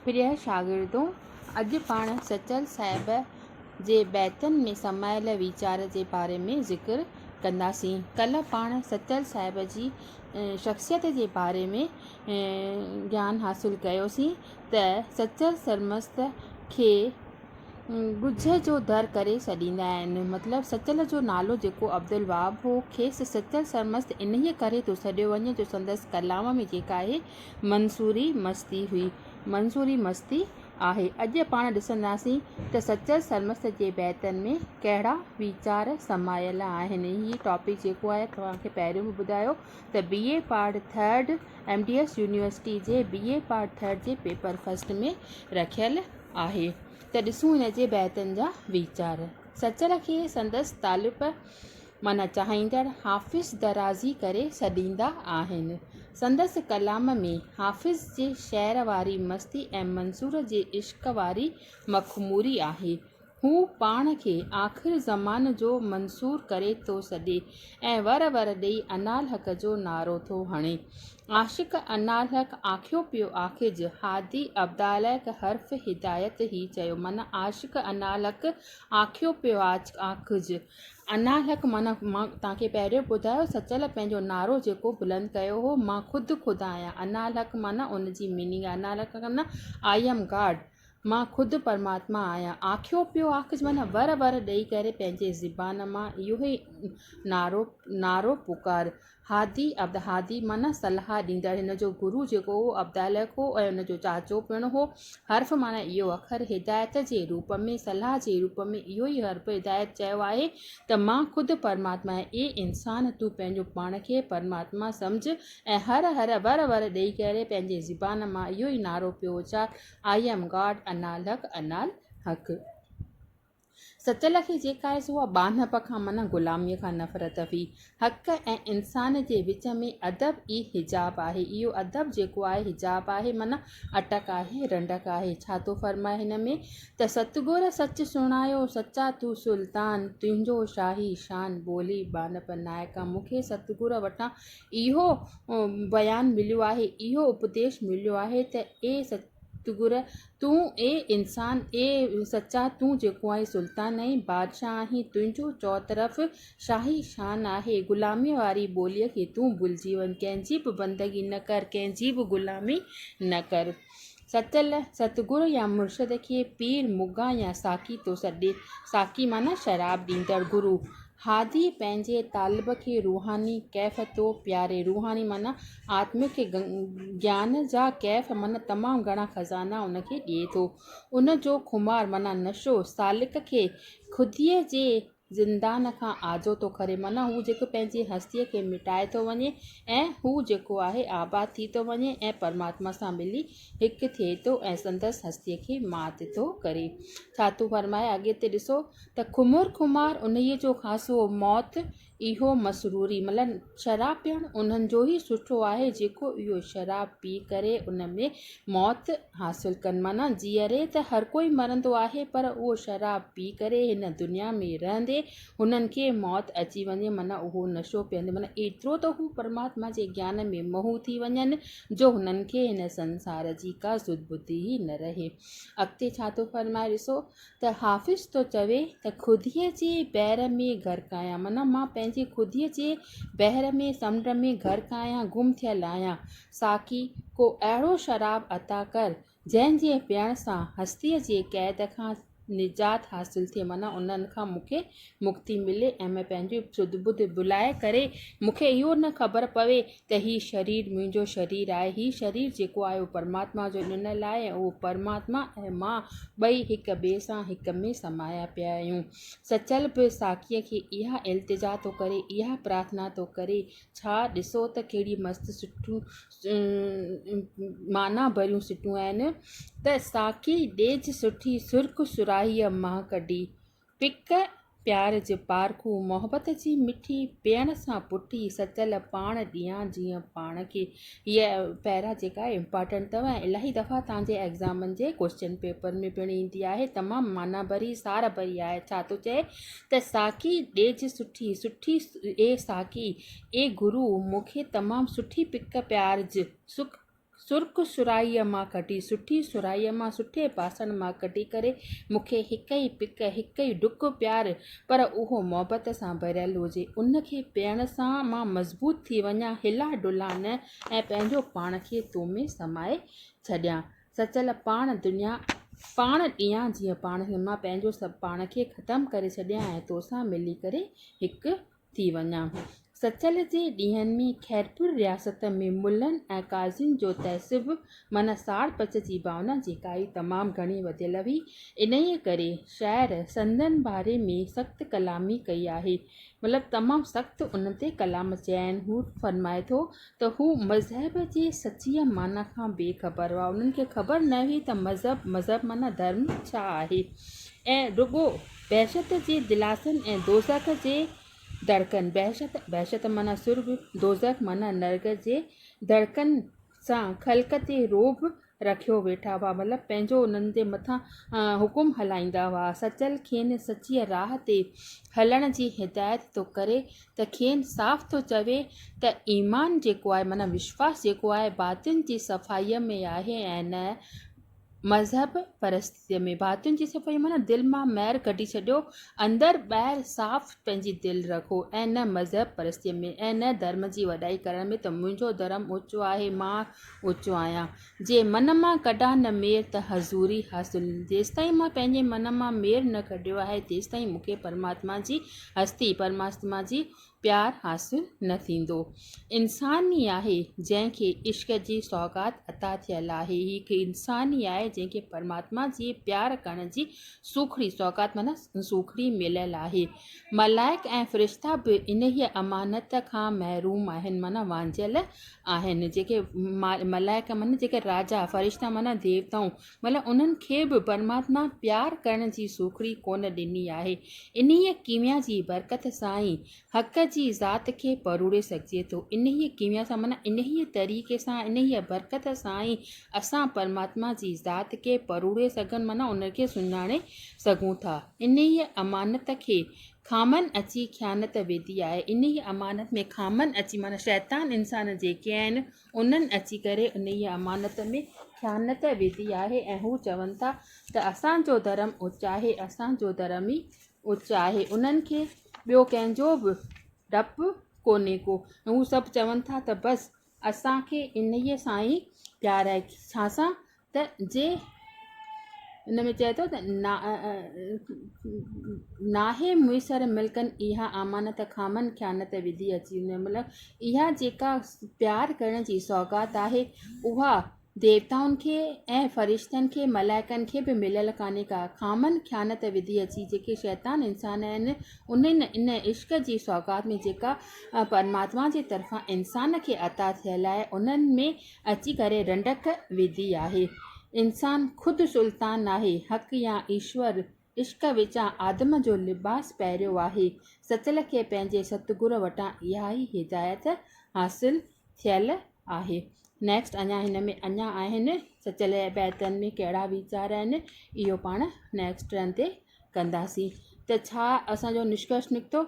پريا شاگردو! اڄ پاڻ سچل صاحب جي بيتن ۾ سمايل ويچار جي باري ۾ ذڪر ڪنداسين. ڪلهه پاڻ سچل صاحب جي شخصيت جي باري ۾ گيان حاصل ڪيوسين ته سچل سرمست کي ڳجهه جو در ڪري سڏيندا آهن. مطلب سچل جو نالو جيڪو عبدالوهاب هو، کيس سچل سرمست انهيء ڪري ٿو سڏيو وڃي جو سندس ڪلام ۾ جيڪا اهي منصوري مستي هئي، منصوري مستي آهي. اڄ پاڻ ڏسنداسين ته سچل سرمست جي بيتن ۾ ڪهڙا ويچار سمايل آهن. هي ٽاپڪ جيڪو آهي توهان کي پهريون به ٻڌايو ته B A part third M D S university جي بي اي پارٽ ٿرڊ جي پيپر فرسٽ ۾ رکيل آهي ته ڏسون هن جي بيتن جا ويچار. سچل کي سندس طالب معنيٰ چاهيندڙ حافظ درازي ڪري سڏيندا آهن. سندس ڪلام ۾ حافظ جي شعر واري مستي ۽ منصور جي عشق واري مخموري آهي. هو پاڻ کي آخر زمان جو منصور ڪري ٿو سڏي ۽ ور ور ڏئي انالحق جو نعرو ٿو هڻي. عاشق انالحق آکيو پيو آکج، هادي ابدالحق حرف هدايت هي چيو من عاشق انالحق آکيو پيو آکج. انالحق من مان توهان کي پهريون ٻڌايو سچل پنهنجو نعرو جيڪو بلند ڪيو هو مان خود خدا آهيان انالحق من ان جي ميننگ آهي انالحق من آئي ايم گاڊ. مان خود پرماتما آهيان. آکيو پيو آکج معنيٰ ور ور ڏئي ڪري پنهنجي زبان مان اهو ئي نعرو نعرو پڪار. هادي عبد هادي معنيٰ صلاح ڏيندڙ هن جو گرو جيڪو هو عبد الهه هو ۽ ان جو چاچو پڻ هو. حرف معنيٰ اهو اکر هدايت جي روپ ۾ صلاح جي روپ ۾ اهو ئي حرف هدايت چيو آهي ته مان خود پرماتما آهيان اي انسان تون پنهنجو پاڻ کي پرماتما سمجهه ۽ هر هر ور ور ڏئي ڪري پنهنجي زبان مان اهو ئي نعرو پيو اچار آئي ايم گاڊ انال حق انال حق سچ لکي جيڪا هيس اها ٻانهپ کان منع غلاميء کان نفرت هئي. حق ۽ انسان جي وچ ۾ ادب ئي حجاب آهي. اهو ادب جيڪو آهي حجاب آهي منع اٽڪ آهي رنڊڪ آهي. ڇا ٿو فرمائي هن ۾ ته ست گر سچ سڻايو سچا تون سلطان تنهنجو شاهي شان ٻولي ٻانهپ نائڪا مون کي ست گر وٽان اهو بيان مليو آهي، اهو اپديش مليو آهي ته اي ستگر تون اي انسان، اي سچا تون جيڪو آهين سلطان ۽ بادشاهه آهين، تنهنجو چؤطرف شاهي شان آهي، غلاميء واري ٻوليء کي تون ڀلجي وڃ، ڪنهن جي به بندگي نه ڪر، ڪنهن جي به غلامي نه ڪر. سچل، ستگرو يا مرشد کي پير مغان يا ساقي ٿو سڏي. ساقي معنيٰ شراب ڏيندڙ گرو. هادي، پنهنجي طالب کي روحاني ڪيف ٿو پياري. روحاني معنيٰ آتمڪ گيان جا ڪيف معنيٰ تمام گهڻا خزانا ان کي ڏئي ٿو. ان جو خمار معنيٰ نشو سالڪ کي خوديء جي زندان کان آجو ٿو ڪري معنيٰ هو جيڪو پنهنجي هستيء کي مٽائي ٿو وڃي ۽ هو جيڪو آهي آباد ٿي ٿو وڃي ۽ پرماتما سان ملي هڪ ٿئي ٿو ۽ سندس هستيء کي مات ٿو ڪري ڇا ٿو فرمائي اڳي تي ڏسو ته خمر خمار انهيء جو خاصو موت اهو مسروري مطلب شراب پيئڻ انهن جو ئي سٺو آهي جيڪو اهو شراب پي ڪري ان ۾ موت حاصل ڪن معنيٰ جيئري ته هر ڪوئي مرندو آهي پر اهو شراب پي ڪري هن دنيا ۾ رهندي هنن کي موت اچي وڃي معنيٰ اهو نشو پيئندي معنيٰ ايترو ته هو پرماتما جي گيان ۾ محو ٿي وڃن جو هنن کي هن سنسار جي ڪا سڌ ٻڌ ئي نه رهي اڳتي ڇا ٿو فرمائي ڏسو ته حافظ ٿو چوي ته خوديء جي بحر ۾ غرق آهيان معنيٰ مان پنهنجي خوديء جي بحر ۾ سمنڊ ۾ غرق آهيان گم ٿيل آهيان ساقي ڪو اهڙو شراب عطا ڪر جنهن جي پيئڻ سان هستيء جي قيد کان نجات حاصل ٿئي معنيٰ انهن کان مون کي مڪتي ملي ۽ مين پنهنجي سڌ ٻڌ ڀلائي ڪري مون کي اهو نه خبر پوي ته هي شرير منهنجو شرير آهي هي شرير جيڪو آهي اهو پرماتما جو ڏنل آهي ۽ اهو پرماتما ۽ مان ٻئي هڪ ٻئي سان هڪ ۾ سمايا پيا آهيون. سچل به ساقيء کي اها التجا ٿو ڪري، اها پرارٿنا ٿو ڪري. ڇا ڏسو ته ڪهڙي مست سٽون معنيٰ ڀريون سٽون آهن ته ساقي ڏيج سٺي سرخ سرائيء مان ڪڍي، پڪ پيار جي پارکو، محبت جي مٺي، پيئڻ سان پٺي، سچل پاڻ ڏيان جيئن پاڻ کي. هيء پيرا جيڪا امپارٽنٽ اٿو ۽ الاهي دفعا توهان جي ايگزامن جي ڪوئسچن پيپر ۾ پڻ ايندي آهي تمام معنيٰ ڀري سار ڀري آهي ڇا ٿو چئي ته ساقي ڏيج سٺي سٺي اي ساقي اي گرو مون کي تمام سٺي پڪ پيار ج سڪ سرخ سرائيء مان ڪڍي، سٺي سرائيء مان، سٺي باسڻ مان ڪڍي ڪري، مون کي هڪ ئي پڪ، هڪ ئي ڊڪ پيار، پر اهو محبت سان ڀريل هجي. ان کي پيئڻ سان مان مضبوط ٿي وڃان، هلان ڊلان نه ۽ پنهنجو پاڻ کي تو ۾ سمائي ڇڏيان. سچل پاڻ دنيا، پاڻ ڏيان جيئن پاڻ مان پنهنجو سڀ پاڻ کي ختم ڪري ڇڏيان ۽ توسان ملي ڪري هڪ ٿي وڃان. سچل جي ڏينهن ۾ خيرپور رياست ۾ ملن ۽ قاضين جو تعصب معنيٰ ساڙ پچ جي ڀاونا جيڪا ئي تمام گهڻي وڌيل هئي. انهيء ڪري شاعر سندن باري ۾ سخت ڪلامي ڪئي آهي. مطلب تمام سخت ان تي ڪلام چيائين. هو فرمائي ٿو ته هو مذهب جي سچيء معنيٰ کان بي خبر هئا. انهن کي خبر نه هئي ته مذهب، مذهب معنيٰ ڌرم، ڇا آهي ۽ رڳو بهشت جي دلاسن ۽ دوزخ جي دڙڪن، بهشت، بهشت معنيٰ سرڳ، دوزخ معنيٰ نرڳ، جي دڙڪن سان خلق تي رعب رکيو ويٺا هئا مطلب پنهنجو انهن جي مٿان حڪم هلائيندا هئا سچل کين سچيء راهه تي هلڻ جي هدايت ٿو ڪري ته کين صاف ٿو چوي ته ايمان جيڪو آهي معنيٰ وشواس جيڪو آهي باطن جي صفائيء ۾ آهي ۽ نه مذهب پرستيء ۾ باطن جي صفائي معنيٰ دل مان مير ڪڍي ڇڏيو اندر ٻاهر صاف پنهنجي دل رکو ۽ نه مذهب پرستيء ۾ ۽ نه ڌرم جي وڏائي ڪرڻ ۾ ته منهنجو ڌرم اوچو آهي مان اوچو آهيان، جي من مان ڪڍان نه مير ته حضوري حاصل. جيستائين مان پنهنجي من مان مير نه ڪڍيو آهي، تيستائين مون کي پرماتما جي هستي، پرماتما جي پيار حاصل نه ٿيندو. انسان ئي آهي، جنهن کي عشق جي سوغات عطا ٿيل آهي. هي هڪ انسان ئي آهي، جنهن کي پرماتما جي پيار ڪرڻ جي سوکڙي، سوغات معنيٰ سوکڙي، مليل آهي. ملائڪ ۽ فرشتا به انهيء امانت کان محروم آهن، معنيٰ وانجهيل آهن جيڪي ملائڪ معنيٰ جيڪي راجا، فرشتا معنيٰ ديوتائون، مطلب انهن کي به پرماتما پيار ڪرڻ جي سوکڙي ڪونه ڏني آهي. انهيء ڪيميا جي برڪت سان ئي حق جي ذات کي پروڙي سگهجي ٿو. انهيء ڪيميا سان معنيٰ انهيء طريقي سان، انهيء برڪت سان ئي اسان پرماتما جي ذات کي پروڙي سگهن معنيٰ ان کي سڃاڻي سگهون ٿا. انهيء امانت کي خامن اچي خيانت ويڌي آهي. انهيء امانت ۾ خامن اچي معنيٰ شيطان انسان جيڪي آهن، انهن اچي ڪري انهيء امانت ۾ خيانت ويڌي آهي ۽ هو چون ٿا ته اسان جو ڌرم اچ آهي، اسان جو ڌرم ئي اچ آهي. انهن کي ٻيو ڪنهن جو به ڊپ ڪونهي ڪو ۽ هو سڀ چون ٿا ته بس! اسان کي انهيء سان ئي پيار آهي. ڇا سان؟ ته جي ان ۾ چئي ٿو ته، ناهي ميسر ملڪن اها امانت خامن خيانت وڌي اچي. مطلب اها جيڪا پيار ڪرڻ جي سوغات آهي، اها ديوتائن کي ۽ فرشتن کي ملائڪن کي به مليل ڪانهي ڪا خامن خيانت وڌي اچي جيڪي شيطان انسان آهن انهن ان عشق جي سوغات ۾ جيڪا پرماتما جي طرفان انسان کي عطا ٿيل آهي انهن ۾ اچي ڪري رنڊڪ وڌي آهي انسان خود سلطان ناهي حق يا ايشور عشق وچان آدم جو لباس پهريو آهي. ستل کي پنهنجي ستگرو وٽان اها ئي هدايت حاصل ٿيل آهي. Next اڃا هن ۾ اڃا آهن سچل جي بيتن ۾ ڪهڙا ويچار آهن اهو پاڻ Next رن تي ڪنداسين ته ڇا اسان جو نشڪرش نڪتو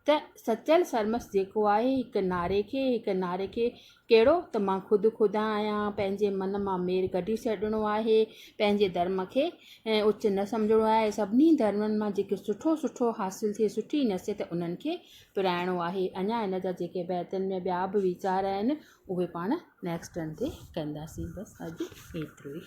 ته سچل سرمست جيڪو آهي هڪ نعري کي هڪ نعري کي ڪهڙو ته مان خود خدا آهيان پنهنجي من مان مير ڪڍي ڇڏڻو آهي پنهنجي ڌرم کي ۽ اچ نه سمجهڻو آهي سڀني ڌرمن مان جيڪي سٺو سٺو حاصل ٿئي سٺي نصيحت انهن کي پرائڻو آهي اڃا ان جا جيڪي بيتن ۾ ٻيا به ويچار آهن اهي پاڻ نيڪسٽ ٽرن تي ڪنداسين بس اڄ ايترو ئي